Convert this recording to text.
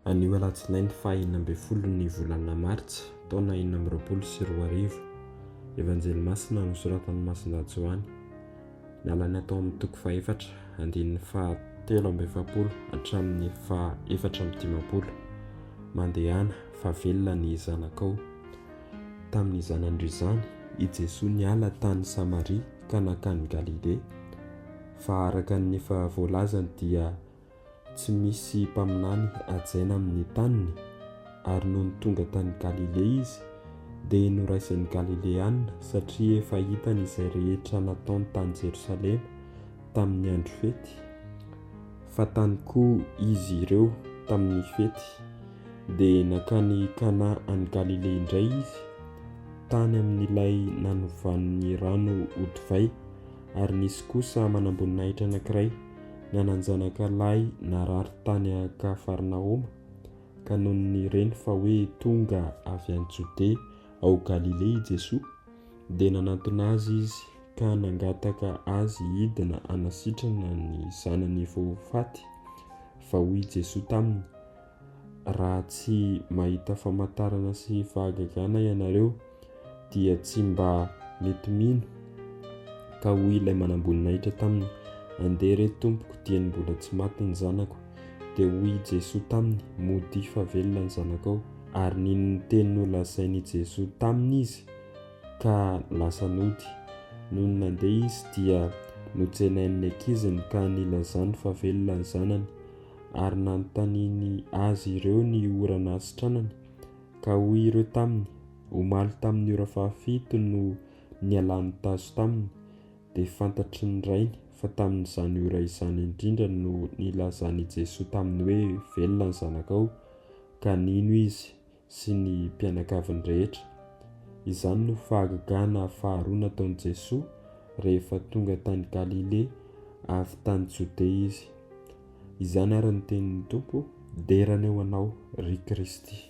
Anio alatsinainy faha enina ambin'ny folo ny volana martsa taona enina amby roapolo sy roa arivo. Evanjely masina nosoratan'i Masindahy Joany. Nalaina tao amin'ny toko fahefatra, andininy faha telo amby efapolo hatramin'ny faha efatra amby dimampolo. Mandehana, fa velona ny zanakao. Tamin'izany andro izany, i Jesoa niala tany Samaria. ka nankany Galilea, fa araka ny efa voalazany dia tsy misy mpaminany hajaina amin'ny taniny, ary nony tonga tany Galilea izy dia noraisin'ny Galileana, satria efa hitany izay rehetra nataony tany Jerosalema tamin'ny andro fety, fa tany koa izy ireo tamin'ny fety. dia nankany Kana any Galilea indray izy, tany amin'ilay nanovan'ny rano ho divay. Ary nisy kosa manamboninahitra anankiray nanan-janaka lahy narary tany Kafarnaoma, ka nony nireny fa hoe tonga avy any Jodea ao Galilea i Jesoa, dia nanantona azy izy ka nangataka azy hidina hanasitrana ny zanany efa ho faty. Fa hoy Jesoa taminy, raha tsy mahita famantarana sy fahagagana ianareo dia tsy mba mety mino ka hoy ilay manamboninahitra taminy andeha re tompoko dieny mbola tsy maty ny zanako dia hoy i Jesoa taminy modia fa velona ny zanakao ary nino ny teny nolazain' i Jesoa taminy izy ka lasa nody nony nandeha izy dia notsenain' ny ankiziny ka nilazany fa velona ny zanany ary nanontaniany azy ireo ny ora nahasitranany, ka hoy ireo taminy, Omaly tamin'ny ora fahafito no nialany tazo taminy, dia fantatry ny rainy fa tamin'izany ora izany indrindra no nilazan'i Jesoa taminy hoe, Velona ny zanakao, ka nino izy, sy ny mpianakaviny rehetra. Izany no fahagagana faharoa nataon'i Jesoa rehefa tonga tany Galilea avy tany Jodea Izy. Izany ary ny tenin'ny Tompo, Dera ny eo anao, ry Kristy.